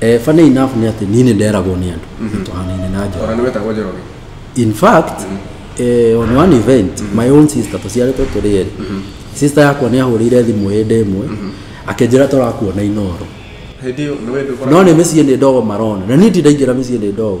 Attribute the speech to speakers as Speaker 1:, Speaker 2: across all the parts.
Speaker 1: Eh, funny
Speaker 2: enough nĩ atĩ niĩ nĩ nderagwo nĩ andũ tũhanaine na njoro ona nĩ wetagwo njoroge
Speaker 1: in fact
Speaker 2: eh, on one event my own sister tũciarĩtwo tũrĩ erĩ sister yakwa nĩ ahũrĩire thimũ hĩndĩ ĩmwe akĩnjĩra tũrakuona inoro hĩndĩ ĩyo nĩ wendũ no nĩ mĩciĩ nĩ ndogo marona na niĩ ndindaingĩra mĩciĩ nĩ ndogo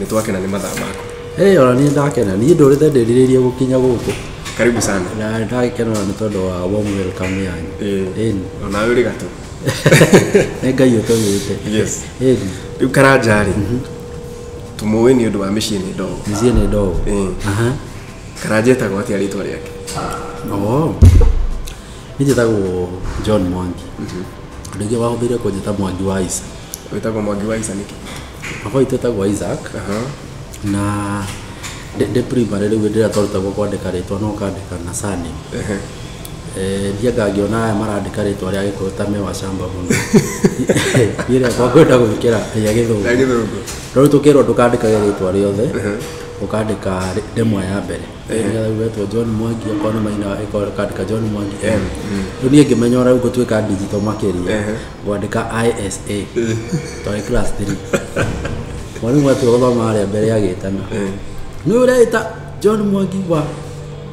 Speaker 1: nĩ twakena nĩ mathaa maku Hey, ona niĩ ndakena niĩ
Speaker 2: ndũrĩte ndĩrirĩirie gũkinya gũkũ karibu sana na
Speaker 1: ndagĩkena ona nĩ
Speaker 2: tondũ wa warm welcome yanyu Eh. Ĩni. onawe ũrĩ gatũ
Speaker 1: nĩ
Speaker 2: ngai ũtũmĩte Yes. Ĩni.
Speaker 1: rĩu karanja rĩ tũmũĩ nĩ ũndũ wa mĩciĩ nĩ ndogo mĩciĩ nĩ ndogo Eh.
Speaker 2: Aha.
Speaker 1: karanja etagwo atĩa rĩtwa rĩake Oo.
Speaker 2: niĩ njĩtagwo john mwangi rĩngĩ wahũthĩire kũnjĩta mwangi wa ica wĩtagwo mwangi wa
Speaker 1: ica nĩkĩ Baba witũ etagwo
Speaker 2: Isaac aha, na ndĩ ndĩ primary rĩu hĩndĩ ĩrĩa twarutagwo kwandĩka rĩtwa no ũkandĩka na surname Ehe. Eh, ndiendaga ngĩona aya marandĩka rĩtwa rĩa gĩkũyũ ta me wa camba mũno niĩ rĩa kwakwenda gwĩkĩra rĩa gĩthũngũ Na gĩthũngũ. no rĩu tũkĩrwo ndũkandĩkage rĩtwa rĩothe ũkandĩka rĩ- ndemwa ya mbere nĩgetha ugetwo john mwangi okorwo nĩ maina ĩkorwo ũkandĩka john mwangi m rĩu niĩ ngĩmenya ona rĩu ngũtuĩka ndigito makĩria ngwandĩka ISA twarĩ class 3 mwarimũ atua gũthoma harĩa mbere agĩtana nĩ ũreĩta John Mwangi wa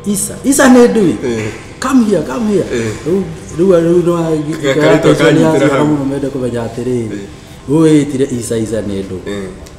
Speaker 2: Isa Isa nĩ ndui come here come here Rĩu- rĩu rĩu no Gakarĩtwa kanyitĩra hau. mũno mende kũmenya atĩrĩrĩ ũyĩtire Isa Isa nĩ ndũ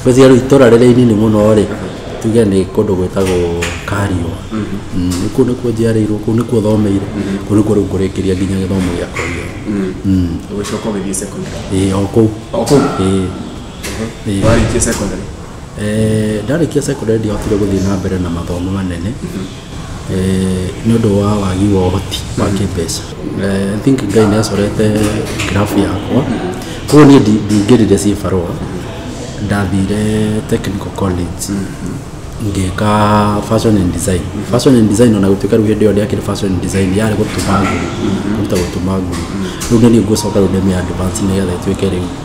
Speaker 2: Ngwĩciria rĩu itũra rĩrĩa inini mũno-rĩ, tuge nĩ kũndũ gwĩtagwo Kariũa. Mm, Kũu nĩkuo njiarĩirwo, kũu nĩkuo thomeire, kũu nĩkuo rĩu ngũrĩkĩria nginya gĩthomo gĩakwa gĩothe. Mm, Ũgĩcoka ũgĩthiĩ
Speaker 1: secondary. ĩĩ, o kũu. O kũu?
Speaker 2: Ĩĩ. Ĩĩ.
Speaker 1: Warĩkia secondary? Eh,
Speaker 2: ndarĩkia secondary ndiahotire gũthiĩ na mbere na mathomo manene eh, nĩ ũndũ wa wagi wa ũhoti wa mm-hmm. kĩmbeca eh, I think ngai nĩ acorete grafu yakwa koguo niĩ ndingĩrire ciĩ barũa ndathire technical college mm-hmm ngeka fashion and design fashion and design ona gutuika riu hindi yo ndiakire fashion and design yari gutuma nguru guta gutuma nguru riu ni ngucoka riu ndemia advance ni getha ituike riu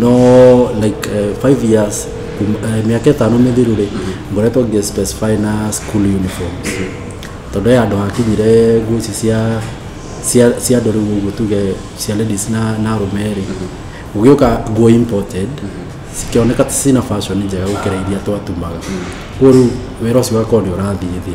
Speaker 2: no like uh, five years kum- eh, mĩaka ĩtano mĩthiru rĩ ngoretwo ngĩ specify na school uniform tondũ he andũ hakinyire nguo ici cia cia cia andũ rĩu ũguo tuge cia ladies na na arũme rĩ ũgĩũka nguo imported cikĩoneka ti cina fashion njega gũkĩra iria twatumaga koguo rĩu wĩra ũcio ũgakorwo nĩ ũrathiĩ thĩ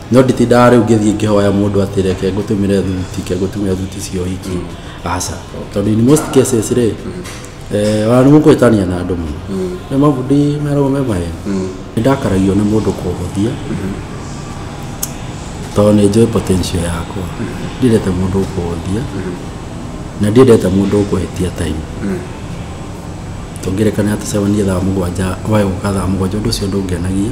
Speaker 2: no nditindaga rĩu ngĩthiĩ ngĩhoya mũndũ atĩ reke ngũtũmĩre thuti ke ngũtũmĩre thuti cia ũhiki aca tondũ in most cases rĩ eh, ona nĩ mũkũhĩtania na andũ mũno nĩ mabundi meragwo me maheni nĩ ndakaragio nĩ mũndũ kũhũthia tondũ nĩ njũĩ potential yakwa ndiendete mũndũ ũkũhũthia na ndiendete mũndũ ũkũhĩtia time tũngĩrekana tũcemanie thaa mũgwanja waĩ gũka thaa mũgwanja ũndũ ũcio ndũngenagia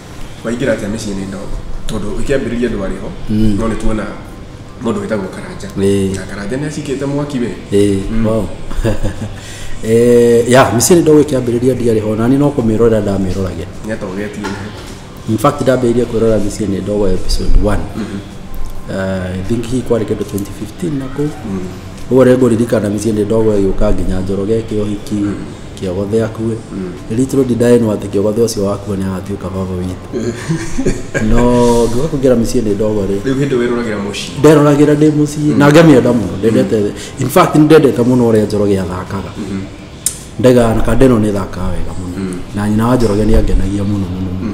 Speaker 1: waingĩra atĩa mĩciĩ-inĩ ĩno tondũ ĩkĩambĩrĩria ndwarĩ ho Mm. no nĩ tuona mũndũ wĩtagwo karanja Ĩĩ. na karanja nĩ acikĩte mwaki we Eh, wow.
Speaker 2: Eh, ya mĩciĩ nĩ ndogo ĩkĩambĩrĩria ndiarĩ ho nani no kũmĩrorera ndamĩroragia nĩ
Speaker 1: atogetie in fact
Speaker 2: ndambĩrĩirie kwĩrora mĩciĩ nĩ ndogo episode 1 Eh, I think hii kwarĩ kĩndũ 2015 na kũu ũguo rĩngũ ririkana mĩciĩ nĩ ndogo ĩgĩũka nginya njoroge kĩohiki kĩogothe akue little did I know atĩ kĩogothe ũcio wakua nĩ agatuĩka baba witũ no ngĩũka kũingĩra mĩciĩ nĩ ndogo rĩ rĩu hĩndĩ wĩroragĩra
Speaker 1: mũciĩ nderoragĩra ndĩ mũciĩ
Speaker 2: na ngamĩenda mũno ndendete in fact nĩ ndendete mũno ũrĩa njoroge athakaga ndega na kandeno nĩ thakaga wega mũno na nyina wa njoroge nĩ angenagia mũno mũno mũno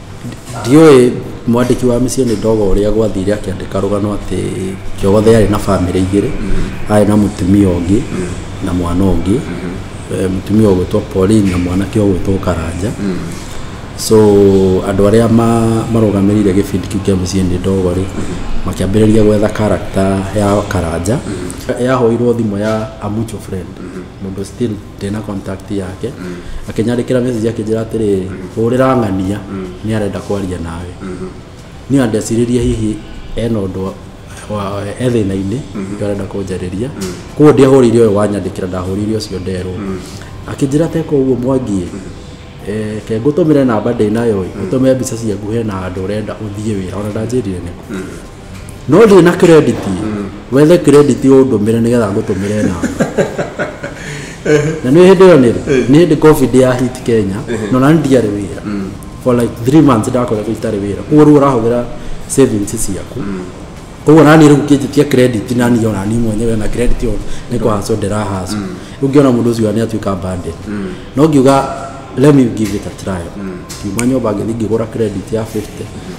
Speaker 2: ndiũĩ mwandĩki wa mĩciĩ nĩ ndogo ũrĩa gwathire akĩandĩka rũgano atĩ Njogothe arĩ na bamĩrĩ igĩrĩ arĩ na mũtumia ũngĩ na mwana ũngĩ Eh, mũtumia ũgwĩtwo Pauline na mwanake ũgwĩtwo Karanja so andũ arĩa ma- marũgamĩrĩire gĩbindi kĩu kĩa mĩciĩ nĩ ndogo rĩ makĩambĩrĩria gwetha karakta ya Karanja yahoirwo thimũ ya a mutual friend mũndũ still ndĩ na contact yake akĩnyandĩkĩra message akĩnjĩra atĩrĩrĩ hũrĩra ng'ania nĩ arenda kwaria nawe niĩ andeciririe hihi ena ũndũ wa- e thĩna-inĩ nĩkĩo arenda kũnjarĩria koguo ndiahũrĩire ũyũ wanyandĩkĩra ndahũrĩire ũcio nderwo akĩnjĩra teka ũguo mwangiĩ eh, ke ngũtũmĩre namba ndĩ nayo ĩ, ngũtũmĩre mbica ciaku hena handũ ũrenda ũthiĩ wĩra ona ndanjĩrire nĩkũ no ndĩ na credit wethe credit ũndũmĩre nĩgetha ngũtũmĩre namba na nĩ hĩndĩ ĩyo nĩrĩ nĩ hĩndĩ covid ya hit kenya no na ndiarĩ wĩra for like three months ndakoretwo itarĩ wĩra koguo rĩu ũrahũthĩra savings ciaku koguo nani rĩu kĩnjĩtia credit nani ona ni mwenyewe na credit ona nĩ kũhacwo ndĩrahacwo rĩu ngĩona mũndũ ũcio nĩ atuĩka bandit no ngiuga let me give it a try ngiuma nyũmba ngĩthiĩ ngĩgũra credit ya 50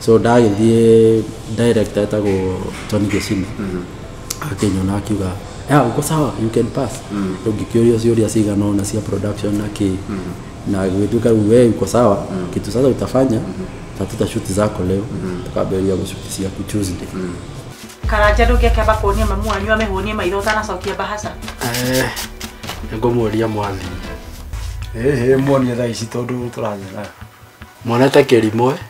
Speaker 2: so ndagĩthiĩ director etagwo John Gĩcina akĩnyona akiuga ya uko sawa you can pass ũngĩkĩũria ciũria cigana ũna cia production na kĩ na gĩtuĩka rĩu we uko sawa kitu sasa utafanya tatuta shuti zako leo tukambĩrĩria gũshuti ciaku Tuesday karanja
Speaker 3: ndũngĩakĩamba kuonia mamu wanyu amĩhũnie maitho ũtanacokia mbahaca Eh, nĩngũmũria
Speaker 2: mwathi ĩhĩ
Speaker 4: muonie thaa ici tondũ tũrathera mwanete kĩrimwe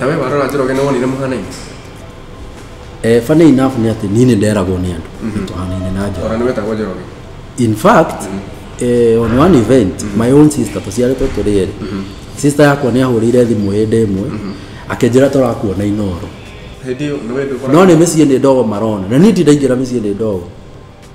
Speaker 1: nawe warora njĩra ũgene wonire mũhanaine
Speaker 2: Eh, funny enough nĩ atĩ niĩ nĩ nderagwo nĩ andũ tũhanaine na njoro ona nĩ wetagwo njĩra
Speaker 1: ũgene in fact
Speaker 2: eh, on one event my own sister tũciarĩtwo tũrĩ erĩ sister yakwa nĩ ahũrĩire thimũ hĩndĩ ĩmwe akĩnjĩra tũrakuona inoro hĩndĩ
Speaker 1: ĩyo nĩ wendũ no nĩ mĩciĩ nĩ ndogo
Speaker 2: marona na niĩ ndindaingĩra mĩciĩ nĩ ndogo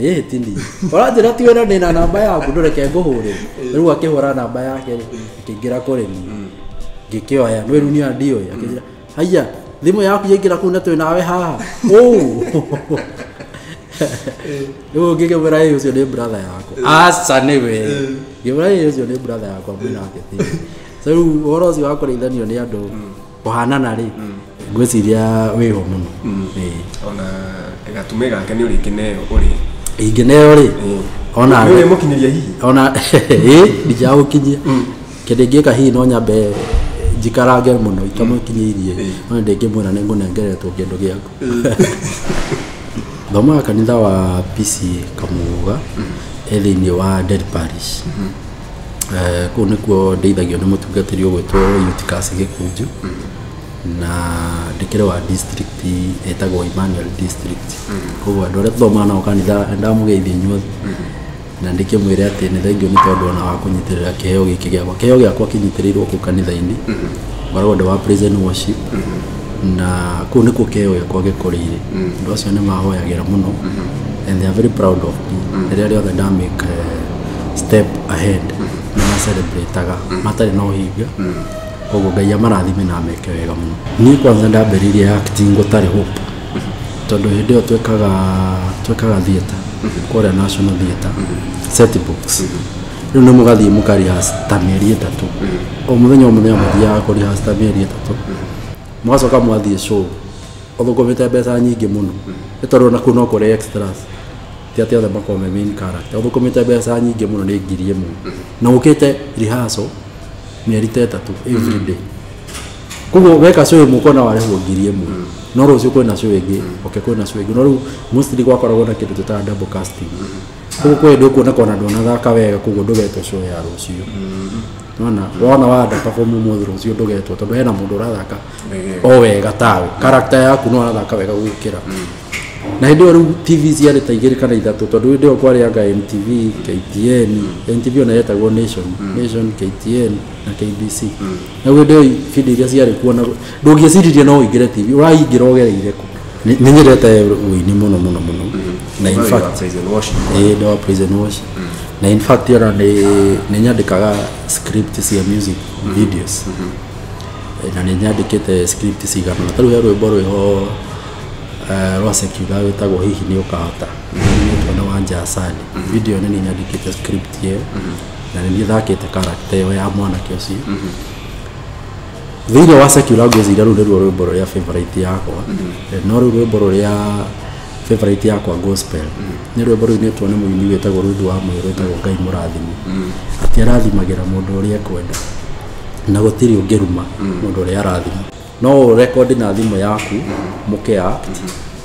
Speaker 2: ĩĩ tini ũranjĩra ti wĩra ndĩna namba yaku ndũreke ngũhũrĩre rĩu akĩhũra namba yake rĩ akĩingĩra kũrĩ niĩ ngĩkĩoya nĩ wĩru niĩ ndiũĩ akĩnjĩra haiya thimũ yaku yaingĩra kũu na twĩ nawe haha ũũ rĩu ngĩkĩmwĩra ĩĩ ũcio nĩ brother yakwa aca nĩ we ngĩmwĩra ĩĩ ũcio nĩ brother yakwa mwĩnake thĩ so rĩu ũhoro ũcio wa kũrĩithanio nĩ andũ kũhanana rĩ ngwĩciria wĩho mũno Ĩĩ. ona
Speaker 1: gatume gake nĩ ũrĩ kĩneo ũrĩ ingĩneo rĩ
Speaker 2: ona nĩ ũrĩ mũkinyĩria hihi
Speaker 1: ona ĩ
Speaker 2: ndingĩagũkinyia kĩndũ ingĩka hihi no nyambe njikarange mũno itamũkinyĩirie no ndĩngĩmwĩra nĩ ngũnengeretwo kĩndũ gĩaku thomaga kanitha wa pc kamuga ĩ thĩinĩ wa Del Parish Eh, kũu nĩkuo ndeithagio nĩ mũtungatĩri ũgwĩtwo Eutychus Gĩkũnjũ na ndĩkĩrĩ wa district ĩtagwo Emmanuel district koguo andũ arĩa tũthomaga nao kanitha ndamũgeithia inyuothe na ndĩkĩmwĩre atĩ nĩ thengiũ nĩ tondũ ona wa kũnyitĩrĩra kĩheo gĩkĩ gĩakwa kĩheo gĩakwa kĩnyitĩrĩirwo kũu kanitha-inĩ ngoragwo ndĩ wa praise and worship na kũu nĩkuo kĩheo gĩakwa gĩkũrĩire andũ acio nĩ mahoyagĩra mũno and they are very proud of me rĩrĩa rĩothe ndamĩka step ahead nĩ macelebrataga matarĩ na ũhinga koguo ngai amarathime na ameke wega mũno niĩ kwanza ndambĩrĩirie acting gũtarĩ hope tondũ hĩndĩ ĩyo twekaga twekaga theatre kũrĩa national theatre set box rĩu nĩ mũgathiĩ mũkarihasa ta mĩeri ĩtatũ o mũthenya o mũthenya mũthiaga kũrihasa ta mĩeri ĩtatũ mũgacoka mwathiĩ show ũthũkũmĩte mbeca nyingĩ mũno nĩ tondũ ona kũu no kũrĩ extras ti atĩ othe makorwo me main character ũthũkũmĩte mbeca nyingĩ mũno nĩ ngiri ĩmwe na ũkĩte rehearsal mĩeri ta ĩtatũ every day koguo weka show ĩmwe ũkona warĩhwo ngiri ĩmwe no rũciũ kwĩna show ĩngĩ oke kwĩna show ĩngĩ no rĩu mostly gwakoragwo na kĩndũ tũtaga double casting koguo kwĩ hĩndĩ ũkuona kona ndwanathaka wega koguo ndũgetwo show ya rũciũ nona wona wanda perform ũmũthĩ rũciũ ndũgetwo tondũ hena mũndũ ũrathaka o wega tawe character yaku no arathaka wega gũgĩkĩra na hĩndĩ ĩyo rĩu tv ciarĩ ta igĩrĩ kana ithatũ tondũ hĩndĩ ĩyo kwarĩ anga mtv ktn mtv ona yetagwo nation nation ktn na kbc na hĩndĩ ĩyo ibindi iria ciarĩ kuo na ndũngĩciririe no ũingĩre tv ũraingĩra ũgereire kũ Nĩ- nĩ nyendete ũini mũno mũno mũno na in fact ĩĩ nĩ wa prison wash na in fact ona nĩ nĩ nyandĩkaga script cia music videos na nĩ nyandĩkĩte script cigana ũna. ta rĩu he rwĩmbo rwĩho Eh, Rwasa kiuga wĩtagwo hihi nĩ ũkahota nĩtwo na wanja asani video nĩ niĩ nyandĩkĩte script ĩyo na nĩ niĩ thakĩte karakta ĩyo ya mwanake ũcio thĩinĩ wa secular ngwĩciria rũu nĩruo rwĩmbo rũrĩa favorite yakwa Eh, no rũu rwĩmbo rũrĩa favorite yakwa gospel nĩ rwĩmbo rũu nĩtwo nĩ mũini wĩtagwo rũthu wa mwĩrĩ wĩtagwo ngai mũrathimi atĩ arathimagĩra mũndũ ũrĩa ekwenda na gũtirĩ ũngĩruma mũndũ ũrĩa arathima no ũrekondi na thimũ yaku mũkea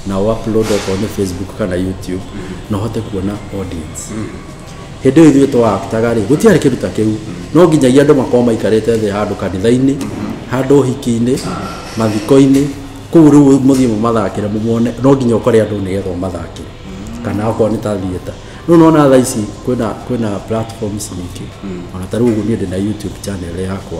Speaker 2: na ũupload okorwo nĩ facebook kana youtube na ũhote kuona audience hĩndĩ ĩyo ithuĩ twaaktaga rĩ gũtiarĩ kĩndũ ta kĩu no nginyagia andũ makorwo maikarĩte thĩ handũ kanitha-inĩ handũ ũhiki-inĩ mathiko-inĩ kũu rĩu mũthiĩ mũmathakĩre mũmone no nginya ũkore andũ nĩgetha ũmathakĩre kana okorwo nĩ ta theatre rĩu nona thaa ici kwĩna kwĩna platforms nyingĩ ona ta rĩu ũguo niĩ ndĩ na youtube channel yakwa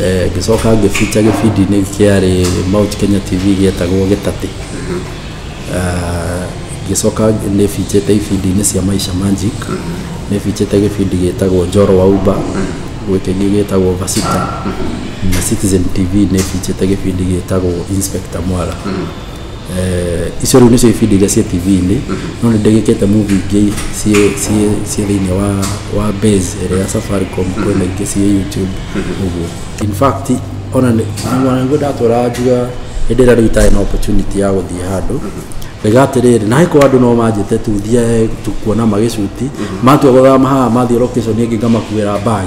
Speaker 2: Eh, ngĩcoka ngĩbinja gĩbindi-inĩ kĩarĩ Mount Kenya TV gĩetagwo Gĩtatĩ Ah, ngĩcoka nĩ binjĩte ibindi-inĩ cia Maisha Magic nĩ binjĩte gĩbindi gĩtagwo Njoro wa Uba gwĩ kĩngĩ gĩtagwo Vasita na Citizen TV nĩ binjĩte gĩbindi gĩtagwo Inspector Mwala icio rĩu nĩcio ibindi iria ciĩ tv-inĩ no nĩ ndĩgĩkĩte movie ingĩ ciĩ ciĩ ciĩ thĩinĩ wa wa base ĩrĩa ya safaricom kwĩna ingĩ ciĩ youtube ũguo in fact ona nĩguo ndatwara njuga hĩndĩ ĩrĩa rĩu itarĩ na opportunity ya gũthiĩ handũ rĩga atĩrĩrĩ na haikũ andũ no manjĩte tu thiae tu kuona magĩcuti matua gũthama haha mathiĩ location ĩngĩ ngamakuĩra bag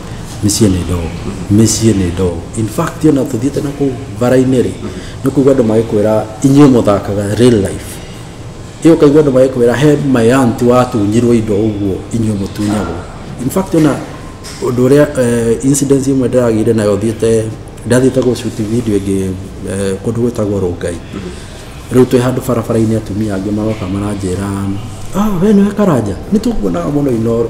Speaker 1: mĩciĩ nĩ
Speaker 2: ndoo mĩciĩ nĩ ndoo in fact ona tũthiĩte na kũu bara-inĩ rĩ nĩ kuigua andũ magĩkwĩra inyuĩ mũthakaga real life ĩyo kaigua andũ magĩkwĩra he my aunt watunyirwo indo ũguo inyuĩ mũtunyagwo in fact ona ũndũ ũrĩa eh, incident imwe ndĩragĩire nayo thiĩte ndathiĩte gũcuti video ĩngĩ eh, kũndũ gwĩtagwo rũngai rĩu twĩ handũ barabara-inĩ atumia angĩ maroka maranjĩra ah, we nĩwe karanja nĩ tũkuonaga mũno inoro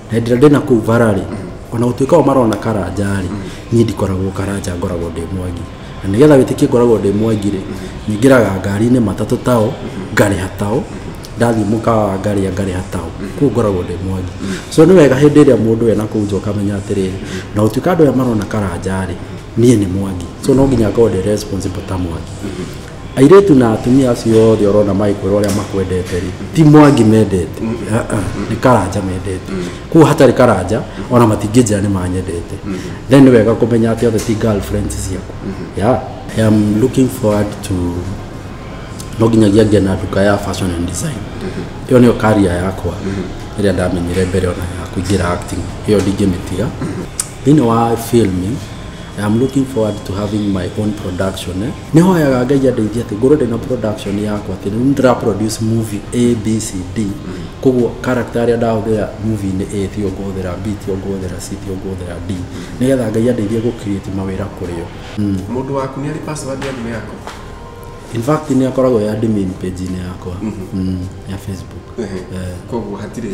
Speaker 2: na hĩndĩ ĩrĩa ndĩ na kũu bara rĩ ona gũtuĩka o marona karanja rĩ niĩ ndikoragwo karanja ngoragwo ndĩ mwangi na nĩgetha wĩtĩkie ngoragwo ndĩ mwangi rĩ nyingĩraga ngari-inĩ matatũ tao ngarĩha tao ndathiĩ mũkawa wa ngarĩa ngarĩha tao kũu ngoragwo ndĩ mwangi so nĩ wega hĩndĩ ĩrĩa mũndũ ena kũu nja ũkamenya atĩrĩrĩ na gũtuĩka andũ aya marona karanja rĩ niĩ nĩ mwangi so no nginya ngorwo ndĩ responsible ta mwangi Airĩtu na atumia acio othe ũrona magĩkwĩra ũrĩa makwendete rĩ ti mwangi mendete Ah, ah, nĩ karanja mendete kuo hatarĩ karanja ona matingĩnjĩra nĩ manyendete then nĩ wega kũmenya atĩ othe ti girlfriends ciaku yeah. I am looking forward to no nginyagia ngĩe na nduka ya fashion and design ĩyo nĩyo karia yakwa ĩrĩa ndamenyire mbere ona ya kũingĩra acting ĩyo ndingĩmĩtiga thĩinĩ wa film I am looking forward to having my own production eh? nĩ hoyaga ngai andeithie atĩ ngorwo ndĩna production yakwa atĩ rĩu ndĩra produce movie a b c d koguo character arĩa ndahũthĩra movie-inĩ a tio ngũhũthĩra b tio ngũhũthĩra c tio ngũhũthĩra d nĩgetha ngai andeithie gũ create mawĩra kũrĩ o Mũndũ waku nĩ
Speaker 1: arĩ password ya thimũ yaku? in fact
Speaker 2: nĩ akoragwo ya admin page-inĩ yakwa mm, ya facebook Ehe. Eh. Koguo
Speaker 1: hatirĩ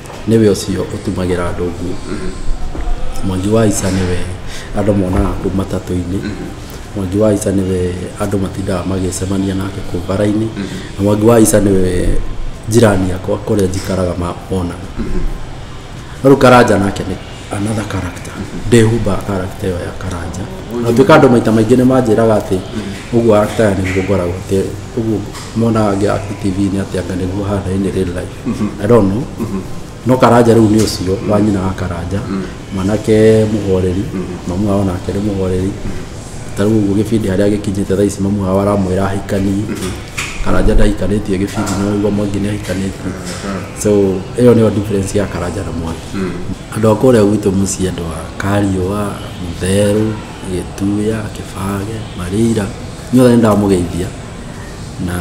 Speaker 2: nĩwe ũcio ũtumagĩra andũ nguo mwangi wa ica nĩwe andũ monaga kũ matatũ-inĩ mwangi wa ica nĩwe andũ matindaga magĩcemania nake kũ bara-inĩ na mwangi wa ica nĩwe njirani yakwa kũrĩa njikaraga ma- monaga no rĩu karanja nake nĩ another character ndĩhumbaga character ĩyo ya karanja na tuĩka andũ maita maingĩ nĩ manjĩraga atĩ ũguo actor nĩguo ngoragwo atĩ ũguo monaga ngĩ act TV-inĩ atĩ anga nĩguo hana in real life I don't know no karanja rĩu nĩ ũcio wa nyina wa karanja mwanake mũhoreri mamu wao nake nĩ mũhoreri ta rĩu ũguo gĩbindi harĩa gĩkinyĩte thaa ici mamu wao aramwĩra ahikanie karanja ndahikanĩtie gĩbindi nĩ ũraigua mwangi nĩ ahikanĩtie so ĩyo nĩyo difference ya karanja na mwangi andũ a kũrĩa gwitũ mũciĩ andũ a kariũa mũtherũ gĩtuya kĩbage marĩira inyuothe nĩ ndamũgeithia na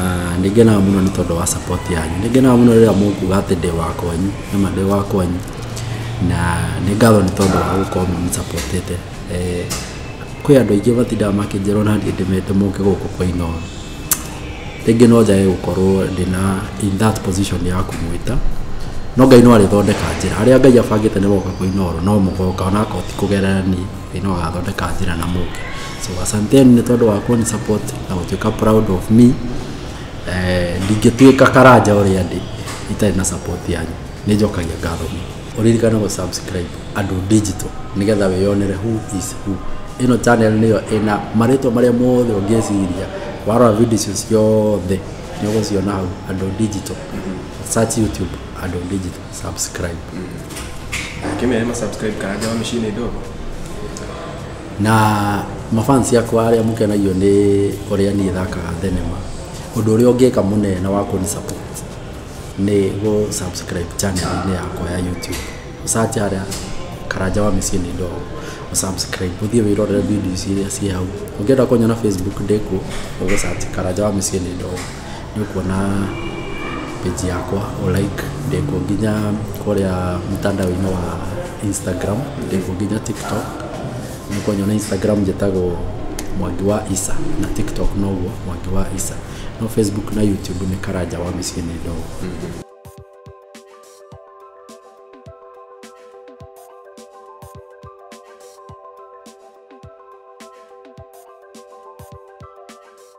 Speaker 2: nĩ ngenaga mũno nĩ tondũ wa support yanyu nĩ ngenaga mũno rĩrĩa mũkuga atĩ ndĩ wa kwanyu nĩma ndĩ wa kwanyu na nĩ ngatho nĩ tondũ wa gũkorwo mũmũsapotĩte kwĩ andũ aingĩ matindaga makĩnjĩrwo na niĩ ndĩmete mũke gũkũ kwa inooro rĩngĩ no njage gũkorwo ndĩna in that position ya kũmwĩta no ngai no arĩthondeka njĩra arĩa ngai abangĩte nĩ moka kwa inooro no mũgoka onakorwo ti kũgerera niĩ Ngai no agathondeka njĩra na mũke so asanteni nĩ tondũ wa kũni support na gũtuĩka proud of me Eh, ndingĩtuĩka karanja ũrĩa ndĩ itarĩ na support yanyu nĩ njokagia ngatho mũno ũririkane gũ subscribe andũ digital nĩgetha wĩyonere who is who ĩno channel nĩyo ĩna marĩtwa marĩa mothe ũngĩciria warora video icio ciothe nĩ ũgũciona hau andũ digital search youtube andũ digital subscribe
Speaker 1: Kime yema subscribe karaja wami shine dogo. na
Speaker 2: mafansi yakwa arĩa mũkenagio nĩ ũrĩa niĩ thakaga thenema ũndũ ũrĩa ũngĩka mũnene wa kũni support nĩ gũ subscribe channel-inĩ yakwa ya youtube ũsache harĩa karanja wa mĩciĩ nĩ ndogo ũsubscribe ũthiĩ wĩrorere video ici iria ciĩ hau ũngĩenda kũnyona facebook ndĩkuo ũgũsache karanja wa mĩciĩ nĩ ndogo nĩ ũkuona page yakwa o like ndĩkuo nginya kũrĩa mtandao-inĩ wa Instagram ndĩkuo nginya TikTok nĩ ũkũnyona Instagram njĩtagwo Mwangi wa Isa na TikTok noguo Mwangi wa Isa no Facebook na YouTube nĩ Karanja wa mĩciĩ nĩ ndogo